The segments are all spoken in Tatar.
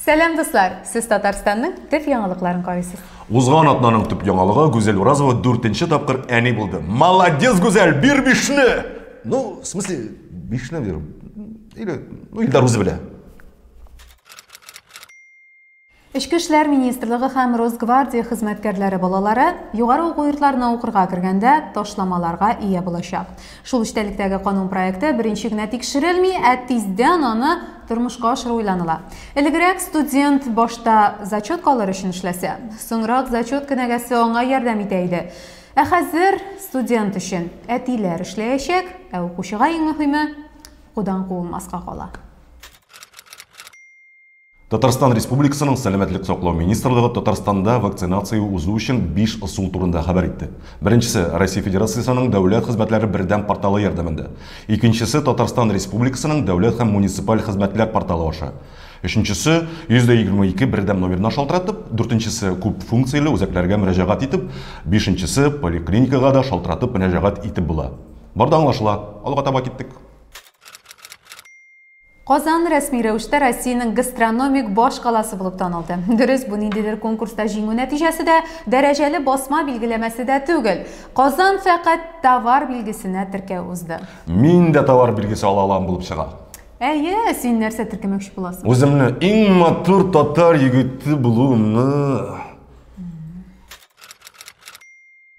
Сәлам дуслар! Сез Татарстанның төп яңалыкларын карыйсыз. Узган атнаның төп яңалыгы Гүзәл Уразова 4-нче тапкыр әни булды. Молодец, Гүзәл, бир бишне! Ну, в смысле, бишне бир. Или, ну, Илдар үзе белә. Эчке эшләр министрлыгы һәм Росгвардия хезмәткәрләре балалары югары уку йортларына укырга кергәндә ташламаларга ия булачак. Шул эчтәлектәге канун проекты беренче генә тикшерелми, ә тиздән аны тормышка ашыру уйланыла. Элегрәк студент башта зачетка алыр өчен эшләсә, соңрак зачет кенәгәсе аңа ярдәм итә иде. Ә хәзер студент өчен әтиләр эшләячәк, ә укучыга иң мөһиме, укудан куылмаска кала. Татарстан Республикасының Сәламәтлек саклау министрлыгы Татарстанда вакцинация узу өчен биш ысул турында хәбәр итте. Беренчесе, Россия Федерациясенең дәүләт хезмәтләре бердәм порталы ярдәмендә. Икенчесе, Татарстан Республикасының дәүләт һәм муниципаль хезмәтләр порталы аша. Өченчесе, 122 бердәм номерына шалтыратып, дүртенчесе, күп функцияле үзәкләргә мөрәҗәгать итеп, бишенчесе, поликлиникага да шалтыратып мөрәҗәгать итеп була. Бар да аңлашыла. Алга таба киттек. Казан рәсми рәвештә Россиянең гастрономик баш каласы булып танылды. Дөрес, бу ниндидер конкурста җиңү нәтиҗәсе дә, дәрәҗәле басма билгеләмәсе дә түгел. Казан фәкать товар билгесенә теркәү узды. Мин дә товар билгесе ала алам булып чыга. Әйе, син нәрсә теркәмәкче буласың? Үземне иң матур татар егете булуымны.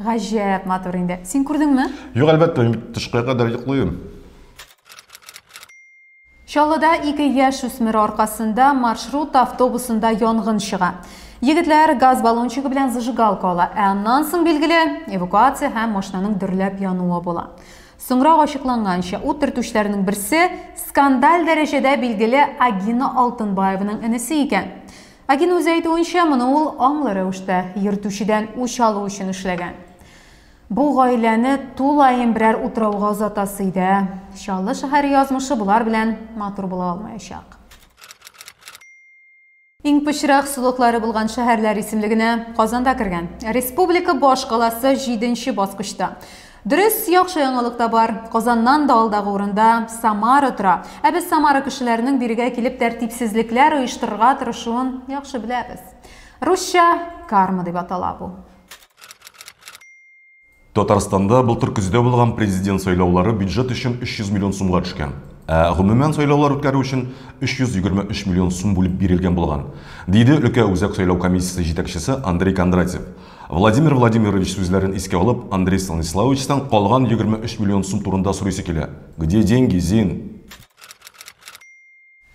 Гаҗәп матур инде. Син күрдеңме? Юк, әлбәттә, мин бит тышкыга кадәр йоклыйм. Чаллыда ике яшь үсмер аркасында маршрут автобусында янгын чыга. Егетләр газ баллончигы белән зажигалка ала, ә аннан соң, билгеле, эвакуация һәм машинаның дөрләп януы була. Соңрак ачыкланганча, ут төртүчеләрнең берсе скандаль дәрәҗәдә билгеле Агина Алтынбаеваның энесе икән. Ләкин үзе әйтүенчә, моны ул аңлы рәвештә, йөртүчедән үч алу өчен эшләгән. Бу гаиләне тулаем берәр утрауга озатасы иде, ә Чаллы шәһәре язмышы болар белән матур була алмаячак. Иң пычрак сулыклары булган шәһәрләр исемлегенә Казан да кергән. Республика башкаласы җиденче баскычта. Дөрес, яхшы яңалык та бар. Казаннан да алдагы урында Самара тора. Ә без Самара кешеләренең бирегә килеп тәртипсезлекләр оештырырга тырышуын яхшы беләбез. Русча карма дип атала бу. Татарстанда былтыр көздә булган президент сайлаулары бюджет өчен 300 миллион сумга төшкән. Ә гомумән сайлаулар үткәрү өчен 323 миллион сум бүлеп бирелгән булган, диде өлкә үзәк сайлау комиссиясе җитәкчесе Андрей Кондратьев. Владимир Владимирович сүзләрен искә алып, Андрей Станиславовичтан калган 23 миллион сум турында сорыйсы килә. Где деньги, Зин?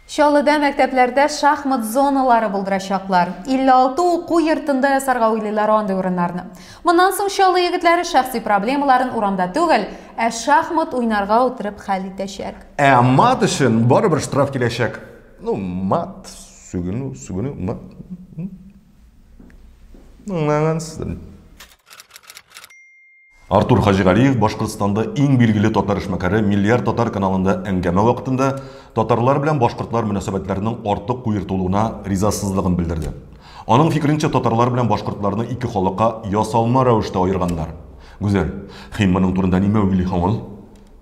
Чаллыда мәктәпләрдә шахмат зоналары булдырачаклар. 56 уку йортында ясарга уйлыйлар андый урыннарны. Моннан соң Чаллы егетләре шәхси проблемаларын урамда түгел, ә шахмат уйнарга утырып хәл итәчәк. Ә мат өчен барыбер штраф киләчәк. Ну, мат, сүгенү, сүгенү, мат. Артур Хаҗигалиев Башкортстанда иң билгеле татар эшмәкәре Миллиард татар каналында әңгәмә вакытында татарлар белән башкортлар мөнәсәбәтләренең артык куертылуына ризасызлыгын белдерде. Аның фикеренчә, татарлар белән башкортларны ике халыкка ясалма рәвештә аерганнар. Гүзәл, хим моның турында нимә уйлый һоң ул?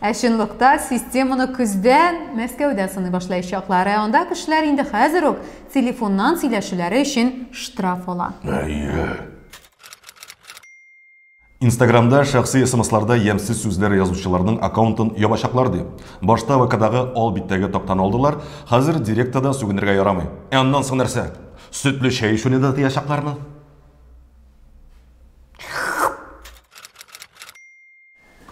Ә чынлыкта системаны көздән Мәскәүдә сыный башлаячаклар, ә анда кешеләр инде хәзер үк телефоннан сөйләшүләре өчен штраф ала. Әйе. Инстаграмда шәхси смсларда ямьсез сүзләр язучыларның аккаунтын ябачаклар ди. Башта ВКдагы ал биттәге тактаны алдылар, хәзер Директа да сүгенергә ярамый. Ә аннан соң нәрсә? Сөтле чәй эчүне дә тыячаклармы?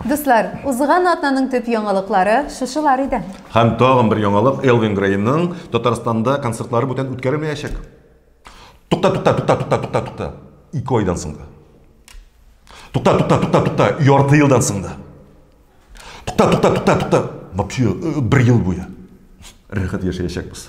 Дуслар, узган атнаның төп яңалыклары шушылар иде. Һәм тагын бер яңалык, Элвин Грейның Татарстанда концертлары бүтән үткәрелмәячәк. Тукта, тукта, тукта, тукта, тукта, тукта. Ике айдан соң да. Тукта, тукта, тукта, тукта, ярты елдан соң да. Тукта, тукта, тукта, тукта. Вообще, э, бер ел буе. Рәхәт яшәячәкбез.